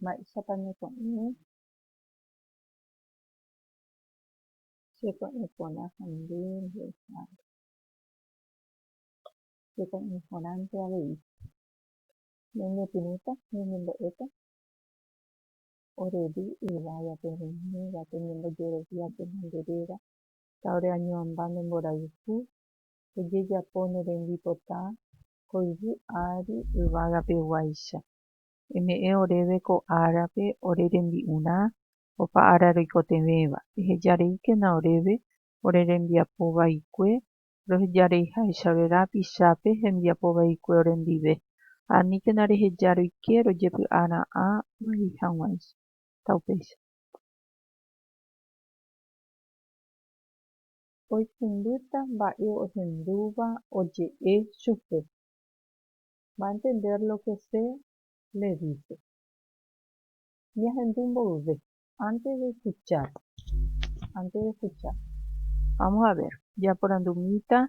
Mba'éichapa ñako'ẽrõ cheko'ẽ porã ha nde mbo'ehára? Cheko'ẽ porãnte avei, ñañepyrũta, ñañembo'éta orevy yvágape, roimívape, ñembojeroviáke nde réra, ha oreañoamba nde mborayhu, ojejapo ne rembipota ko yvy ári yvagapeguáicha. Eme'ẽ oréve ko árape ore rembi'urã opa ára roikotevẽva, ehejareíkena oréve ore rembiapo vaikue rohejareiháichare rapichápe hembiapo vaikue orendive, ha aníkena reheja roike rojepy'ara'ã vai hag̃uáicha. Taupéicha. oikũmbýta mba'e ohendúva oje'e chupe, va a entender lo que se le dice. Ñahendu mboyve. Antes de escuchar, antes de escuchar. Vamos a ver, japorandumíta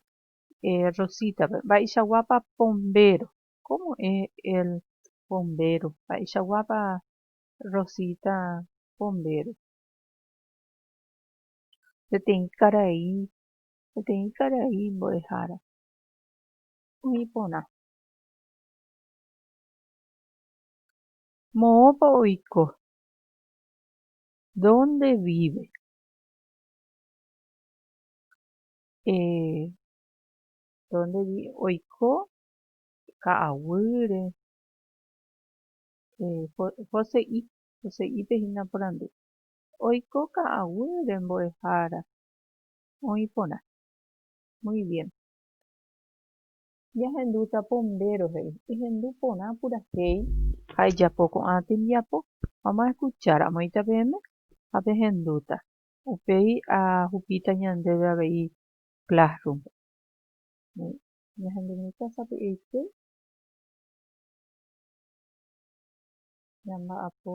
Rosita-pe, mba'eichaguápa pombéro? Cómo es el pombéro? Mba'eichaguápa Rosita pombéro? peteĩ karai, peteĩ karai mbo'ehára oĩ porã. Moõpa oiko? Dónde víve? Eh, dónde víve? Oiko ka'aguýre, eh, hose'i, hose'ípe hína porandu. Oiko ka'aguýre mbo'ehára oĩ porã. Muy bien. Jahendúta pombéro he'i. Ehendu porã purahéi. Ha ejapo ko'ã tembiapo. Vamos a escuchar. Amoĩta peẽme ha pehendúta. Upéi ahupíta ñandéve avei Classroom. Muy bien. Ñahendumi tasapy'aite. Ñamba'apo.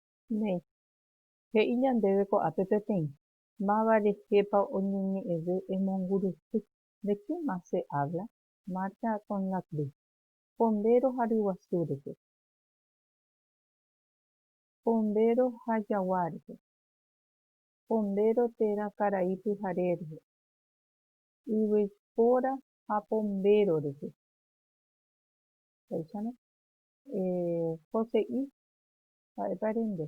Néi, he'i ñandéve ko'ápe peteĩ, máva rehépa oñeñe'ẽve emongurusy de qué más se habla, Marta con la cruz, pombéro ha ryguasu rehe, pombéro ha jagua rehe, pombéro térã karai pyhare rehe, yvypóra ha pombéro rehe. Péichano, eh, Jose'i Ha'épa rende.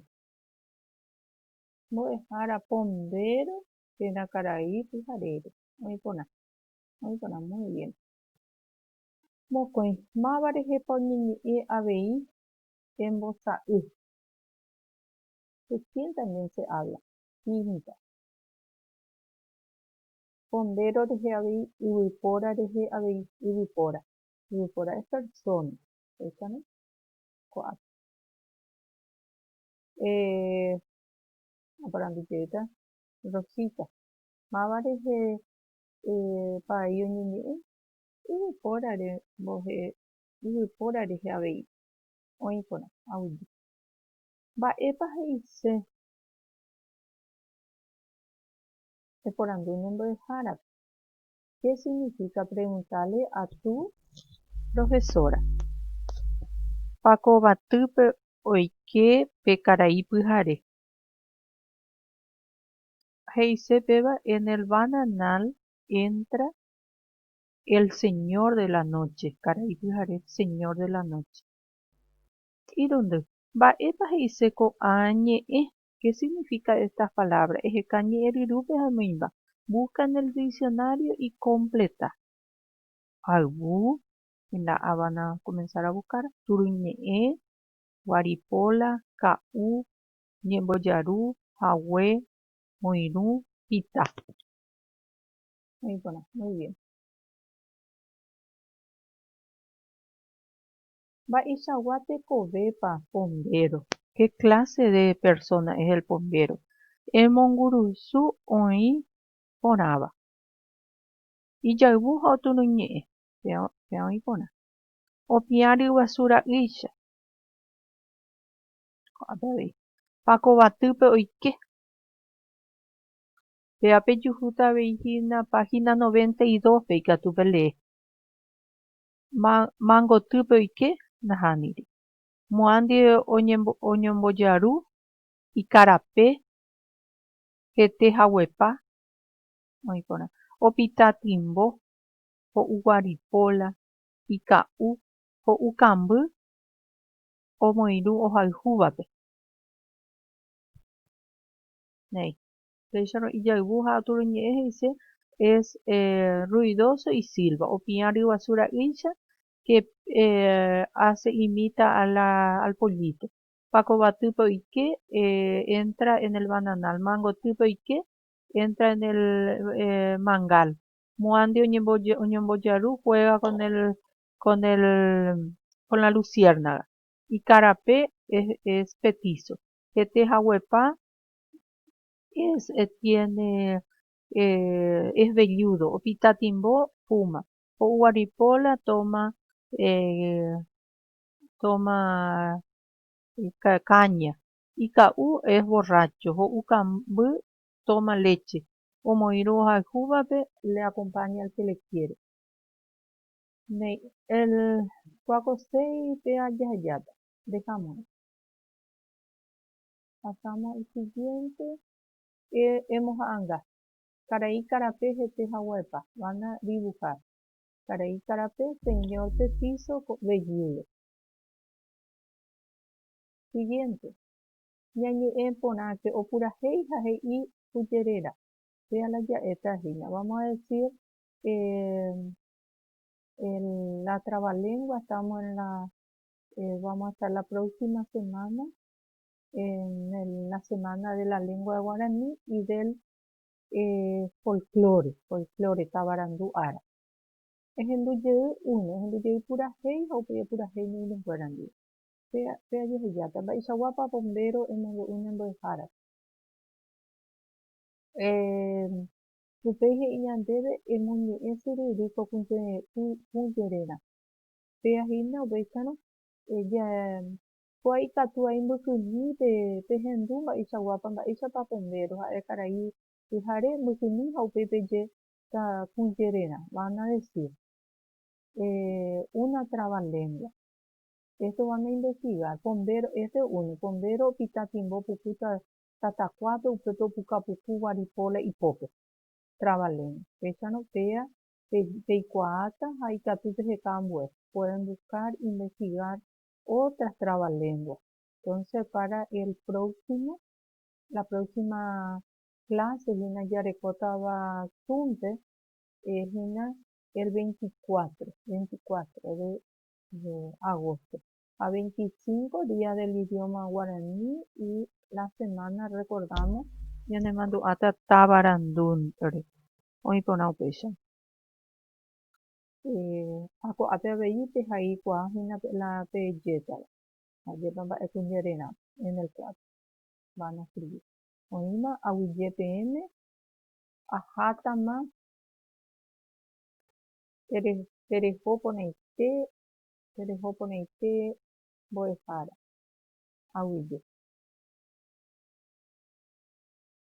Mbo'ehára pombéro térã karai pyharére. Oĩ porã. Oĩ porã muy bien. Mokõi. Máva rehépa oñeñe'ẽ avei embosa'y. Recién también se habla. Pinta. Pombéro rehe avei yvypóra rehe avei. Yvypóra. Yvypóra es persona. Péichame. Ko'ápe. Eh, aparandujéta, Rosita, máva rehe eh, paai oñeñe'ẽ yvypórare mbohe, yvypóra rehe avei, oĩ porã, audi. Mba'épa he'ise eporandu ne mbo'ehárape? Che signifíka preguntále a tu profesóra. Pa kovatýpe oike pe karai pyhare. He'ise péva en el bananal entra el señor de la noche, karai pyhare señor de la noche. Irundy, Mba'épa he'ise ko'ã ñe'ẽ Ke signifika estas palabra? Eheka ñe'ẽryrúpe ha noĩmba. Busca en el diccionario y completa. Ayvu, en la Habana van a comenzar a buscar, turuñe'ẽ, guaripola, ka'u, ñembojaru, hague, oirũ, hita. Oĩ porã. Muy bien. Mba'eichagua tekovépa pombéro? Ke kláse de persóna es el pombéro? Emongurusu oĩ porãva. Ijayvu ha oturuñe'ẽ péva oĩ porã. Opiã ryguasu ra'ýicha. Ko'ápe avei. Pako batýpe oike. Péva pejuhúta avei hína páhina noventa y dos-pe ikatu pelee. Mayma gotýpe oike, nahaniri. Moã ndive oñombojaru ikarape hete haguepa oĩ porã. Opita timbo, ho'u guaripóla, ika'u, ho'u kamby omoirũ ohayhúvape. Néi. Péicharõ ijayvu ha aturuñe'ẽ he'ise es ruidoso y silva, opiã ryguasu ra'ýicha que hace imita al pollito. Pako batýpe oike, entra en el bananal. Mangotýpe oike, entra en el mangal. Mo'ãndi oñembojaru, juega con la luciérnaga. Ikarape es petizo. Hete haguepa es velludo opitatimbo puma ho'uguaripo la toma toma caña ika'u es borracho ho'u kamby toma leche omoirũ ohayhúvape le acompaña al que le quiere kuakoséipe jajajáta ndekamo'ãi Asáma isiguiénte emoha'anga, Karai karape hete haguaepa, van a dibujar, karai karape señor pe píso vejúle. Siguiente. Ñañe'ẽ porãke opurahéi ha he'i kuje réra. Vea la ja'éta hína. Vamos a decir el, la trabalengua, estamos en la, vamos a estar la próxima semana, en el, la semana de la lengua de guarani y del eh, folklore, folklore tavarandu ára. Ehendu jey uno, ehendu jey purahéi ha upéi epurahéi ne iñeskuéra ndive. Pe, pe ajehejáta, mba'eichaguápa bombero emombe'u ne mbo'ehárape? Eh, upéi he'i ñandéve emoñe'ẽ syrýri ko kũjererã. Péa hína upéicharõ, ja, Ko ikatu aimbykymi pe pehendu mba'eichaguápa mba'éichapa pende roha'e karai pyhare mbykymi ha upéi peje ta kũjererã, van a decir, eh, una trabalengua. Esto van a investigar, pombéro, este es uno, pombéro opita timbo puku ta tatakuápe upépe opuka puku guaripo la ipópe, trabalengua. Péicharõ péa pe peikuaáta ha ikatu peheka ambue, pueden buscar, investigar, otras trabalenguas. Entonces para el próximo, la próxima clase hína jarekótava súnte es hína el 24, 24 de, de agosto. Ha 25 día del idioma guaraní y la semana recordamos ñanemandu'áta Tabarandúnre. Oĩ porã upéicha. Ha ko'ápe avei pehaikuaa hína la pejétava, ajépa mba'ekue jererã, en el cuatro, van a escribir. Oĩma aguyje peẽme, ahátama pereho porãite, pereho porãite mbo'ehára aguyje.